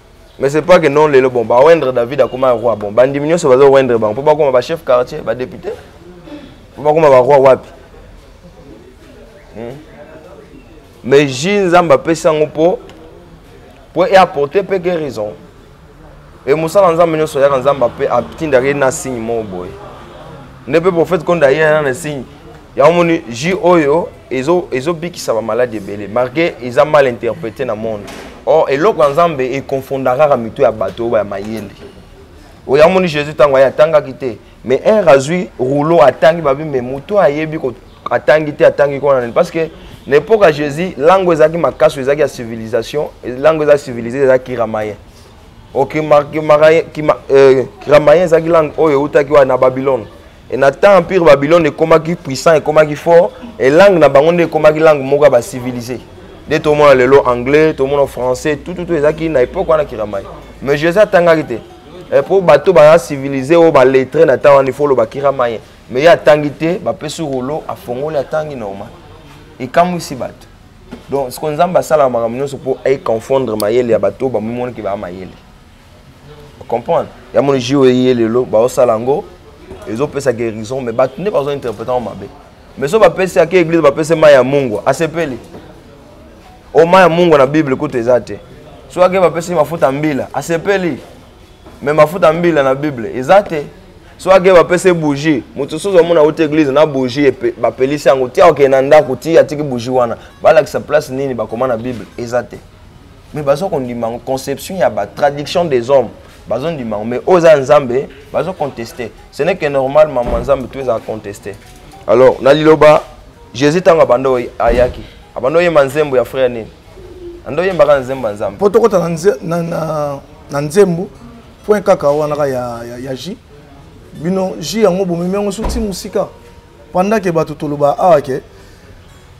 mais c'est pas que non lelo bon ba wendre david akoma roi bon bandimi nyonso bazo wendre bango mpo bakoma ba chef quartier ba député mpo bakoma ba roi wapi hmm? mais ji nzambe apesi yango mpo mpo eapporte mpe guérison e mosala nzambe nyonso yaka nzambe ape atindaka ye na signe moko boye nde mpe prophète konda ye na signe yango moni ji oyo ezo ezo bikisa ba malade ebele marke eza mal interprete na monde or eloko ya nzambe econfonda kaka mitu ya bato oyo ya mayele oyo amoni jésus ntango aye atangaki te mais un azwi rouleau atangi babi me motu ayebi atangi te atangi kona nani parce que na époque ya jésus langue ezalaki makasi oyo ezalaki ya civilisation langue eza civilise ezalaki kiramayen okiramayen euh, ezalaki langue oyo eutaki wana na babylone Et na temps empire Babylone ekomaki puissant ekomaki fort et langue na bango nde ekomaki langue moko ya ba civilisé. Nde tomona lelo anglais, tomona français, tout tout tout ezaki na époque wana kiramai. Mais Jésus atangaki te. Et pour bateau ba civilisé au ba lettré na temps wana il faut loba kiramai. Mais ya tangi te, ba pesu rolo afongoli atangi normal. Ekamwisi bato. Donc ce qu'on zamba sala makambo nyonso po ay confondre mayele ya bateau ba mimoni ki ba mayele. comprendre ya moni jio eye lelo baosala yango ezopesa guérison mais bato nde bazointerprete yango mabe mais so bapesi ake église bapesi mai ya mungwa asepeli o mai ya mungwa na bible kutu eza te so ake bapesi mafuta mbila asepeli mais mafuta mbila na bible eza te so ake bapesi bougie moto soso amona auti église na bougie bapelisi yango tia okende na ndako ti atiki bougie wana balakisa place nini bakoma na bible eza te mais bazo kondima yango conception ya ba traduction des hommes bazo ndima yango mais oyo eza nzambe bazo conteste ce n'est que normal mama nzambe to ezala conteste alors na liloba jésus ntango abanda ayaki abanda oyemba nzembo ya frère nini anda oyembaka na nzembo ya nzambe mpo tokota na nzembo point kaka wana ka ya, ya, ya ji bino ji yango bomemi yango so ti mosika Pendant que bato toloba awa ke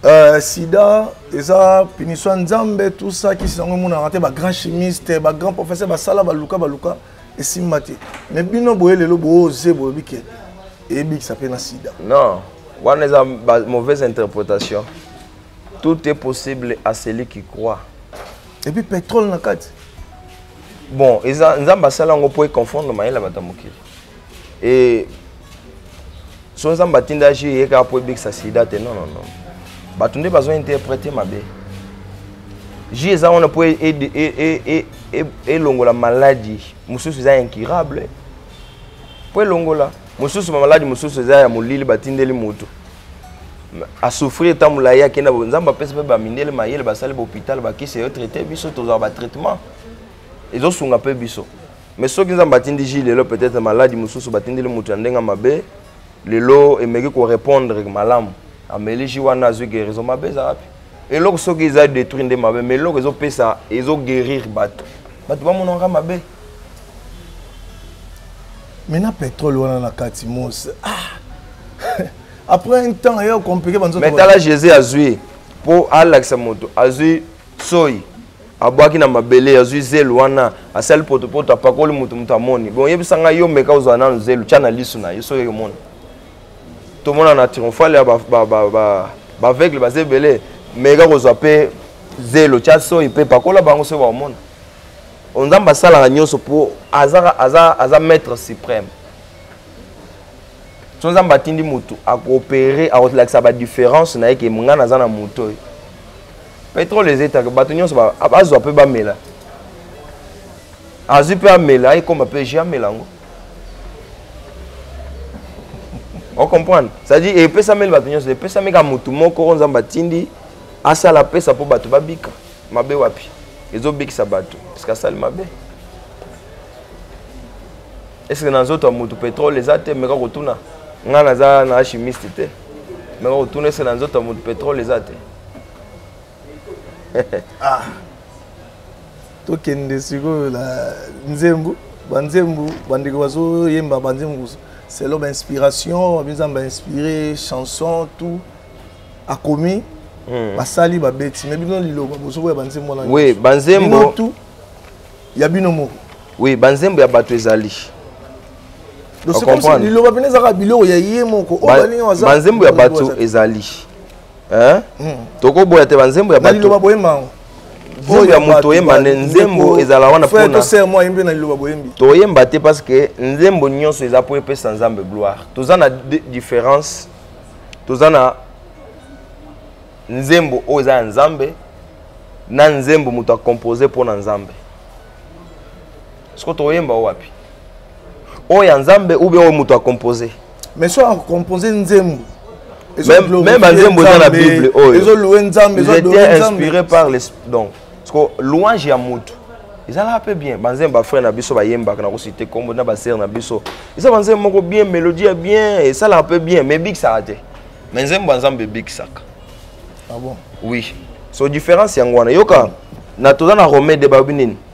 euh, sida eza punition ya nzambe tout ça kisi yango emonaka te bagrand chimiste bagrand professeur basala baluka baluka esimba te mais bino boye lelo booze bolobi ke eyebikisa mpe na sida non wana eza mauvaise interprétation tout est possible à celui qui croit et puis pétrole na kati bon eza nzambe asala yango mpo econfondre mayele ya bato ya mokili e so nzambe atinda jus eye kaka mpo ebikisa sida te non non non bato nde bazo interprete mabe jus eza wana mpo e, e, e, elongola maladi mosusu eza incurable mpo elongola mosusu bamaladi mosusu eza ya molili batindeli moto asouffrir ntango molai akenda nzambe apesi mpe bamindele mayele basali bahopital bakisi eyo traite biso tozwaka batraitement ezosunga mpe biso mais soki nzambe atindi ji lelo peut-être maladi mosusu batindeli moto ya ndenge ya mabe lelo emeki korépondre malamu ameli ji wana azwi guérison mabe eza wapi eloko soki eza détruit nde mabe mais eloko ezopesa ezoguérir bato bato bamonaka mabe mais na pétrole wana na kati mos ah. après un temps eye compliqué banzo mais tala jésus azwi mpo alakisa moto azwi soyi abwaki na mabele azwi zelu wana asali potopoto apakoli moto moto amoni bon yebisa ngai yo meka ozwa nanu zelu tya na lisu na yo soki omona tomona na triomphale ya baveugle baza ebele meka kozwa mpe zelo tya soyi mpe pakola bango soki bakomona o nzambe asalaka nyonso mpo aza, aza, aza maître suprême so nzambe atindi motu akoopere akolakisa badifférence na ye ke ngai naza na moto oyo petrole ezetaka bato nyonso bazwa mpe bamela azwi mpe amela ekoma mpe je amela yango ocomprendre c'est-à-dire epesameli bato nyonso epesami kaka motu moko oyo nzambe atindi asala apesa mpo bato babika mabe wapi ezobikisa bato parceke asali mabe eske na nzoto ya motu petrole eza te meka kotuna ngai naza na chimiste te meka kotuna eske na nzoto ya motu petrole eza te ah. tokende sikoyo na nzembu banzembu bandeko bazoyemba banzembu selon bainspiration babiza bainspire chanson tout akomi hmm. basali babeti me bino liloba bozokoya banzembo wana oui, banzembo tout ya bino moko oui banzembo ya bato ezali liloba mpena ezalaka biloko ya ye moko banzembo ya bato ezali hein hmm. toko boya te ba nzembo ya batu ba boyemba ngo oyo ya moto oyemba nde nzembo ezala wana toyemba te parce que nzembo nyonso eza mpo epesa nzambe gloire toza na différence toza na nzembo oyo eza ya nzambe na nzembo moto akompose mpo na nzambe siko tokoyemba o wapi oyo ya nzambe ou bien oyo moto akompose mais soki akompose nzembo meme banzembo eza na bible oyo ezoloue nzambe ezoloue inspiré par les donc siko louange ya moto ezalaka mpe bien banzembo bafrère na biso bayembaka na kosite nkombo na basere na biso eza banzembo moko bien mélodie ya bien esalaka mpe bien mais ebikisaka te mais nzembo ya nzambe ebikisaka ah bon oui so différence yango wana yoka na toza na romain de babi nini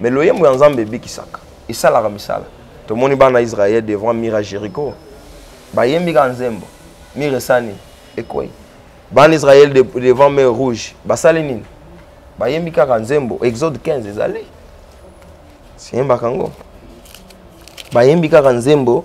Mais loyembo ya Nzambe ebikisaka. Esalaka misala. Tomoni bana Israël devant mira Jericho. Bayembi ka nzembo. Mire esani ekwei. Bana Israël devant mer rouge. Basali nini? Bayembi kaka nzembo. Exode 15 ezali. Siyembaka ngo. Bayembi kaka nzembo.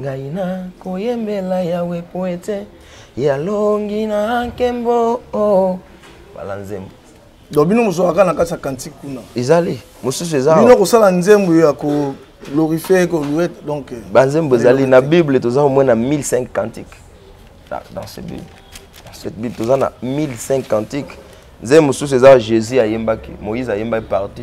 ngai nakoyembela yawe po ete yalongi na nkembo oh. bala nzembo donc bino mozwaka na kati ya kantike kuna ezali mosusu eza bino kosala nzembo ya ko glorifie kolue donc euh, banzembo ezali na bible toza au moins na 1005 cantiques ah, dans ce bible dans cette bible toza na 1005 cantiques nzembo mosusu eza jésus ayembaki moïse ayembaki parti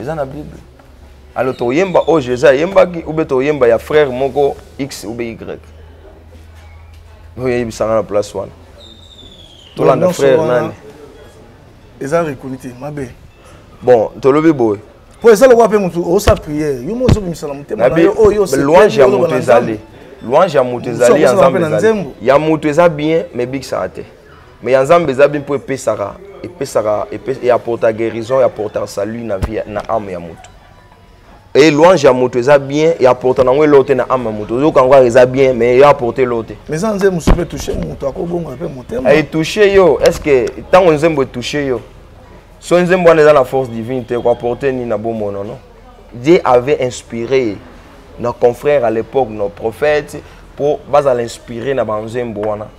eza na bible alors toyemba oyo jesus ayembaki ube toyemba ya frère moko x ube y oyo eyebisanga na place wana tolanda frère nani eza rekoni te mabe bon tolobi boye mpo eza lokola mpe motu osa priere yo mo ozobimisa na motema na yo oyo louange ya moto ezali louange ya moto ezali ya nzambe ezali ya moto eza bien mais ebikisaka te mais ya nzambe eza bien mpo epesaka epesaka eapporta guérison eapporta salut na vie na ame ya moto e louange ya moto eza bien eapporta nango eloo te na ame ya moto oyoka yango eza bien mais eapporte eloo te mais eza nzembo mosusu mpe touche moto akobongola mpe motema etouche yo est ce que ntango nzembo etouche yo so nzembo wana eza na force divine te koapporte nini na bomono no dieu avait inspiré nos confrères à l'époque nos prophètes mpo bazala inspiré na banzembo wana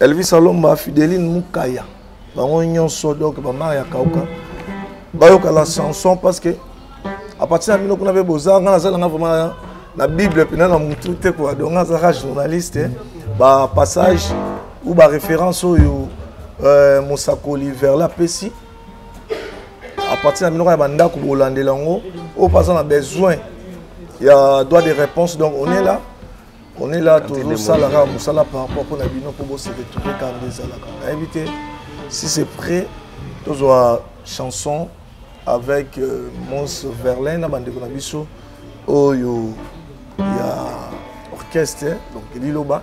elvis alomba fideline mukaya bango nyonso donc bamar ya kauka bayoka la chanson parce que à partir ya bino kuna mpe boza nga nazala nga vraiment na bible mpena na mutu te kua donc nga azalaka journaliste eh. bapassage ou baréférence oyo euh, mosakoli verla apesi à partir ya minoko ya bandako bolandela yango oyo mpe aza na besoin ya droit de réponse donc on est là on est là tozosala kaka mosala par rapport mpo na bino mpo bose retrouve kaka nde ezalaka nayebi te si c'est prêt tozwa chanson avec euh, mons verlin na bandeko na biso oyo ya orchestre donc liloba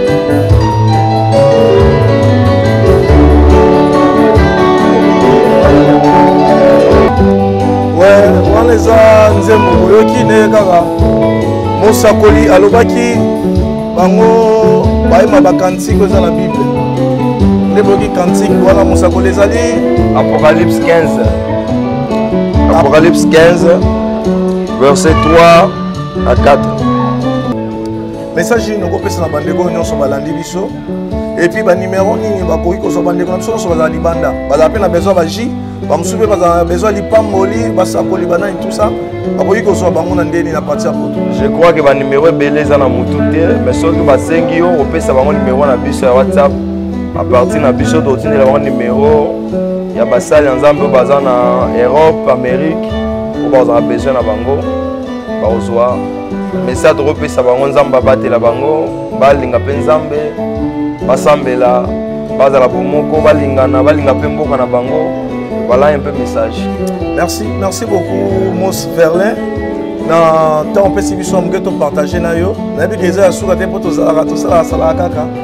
wana eza nzembo boyoki nde kaka mosakoli alobaki bango bayema bakantiko eza na bible nde boyoki kantike wana mosakoli ezali apocalypse 15 apocalypse 15 verset 3 à 4 message nini okopesa na bandeko oyo nyonso balandi biso epuis banimero nini bakoki kozwa bandeko na biso nyonso bazala libanda bazala mpe na besoin baji bamosusu mpe bazala na besoin lipamboli basakoli banani tout ça bakoki kozwa bango na ndeni na parti ya poto je crois ke banimero ebele eza na motu te mais soki basengi yo opesa bango nimero na biso ya whatsapp a partir na biso totindela bango nimero ya basali ya nzambe oyo baza na europe amérique oyo bazala besoin na bango bakozwa message tokopesa bango nzambe abatela bango balinga mpe nzambe basambela bazala bomoko balingana balinga mpe mboka na bango voilà un peu message merci merci beaucoup mos verlin na ntango opesi biso ya moke topartage na yo nayebi ke eza ya suka te mpo tozalaka tosalaka salaka kaka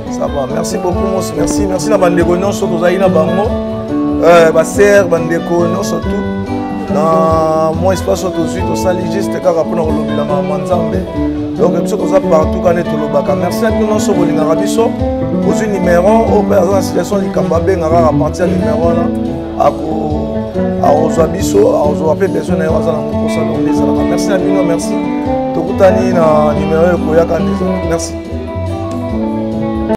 Ça va, merci beaucoup Mos, merci, merci na bandeko nyonso tozali na bango, euh, ba sœur, bandeko nyonso tout. Na mwa espace oyo tozwi tosali juste kaka mpona kolobela mama nzambe donc biso toza partout kane tolobaka merci na bino nyonso bolingaka biso ozwi numero oyo mpe aza na situation likambo abenga kaka parti ya numero wana ako akozwa biso akozwa mpe besoin na ye aza nango mposa donc nde ezalaka merci na bino merci tokutani na numero ekoyaka nde ezalaka merci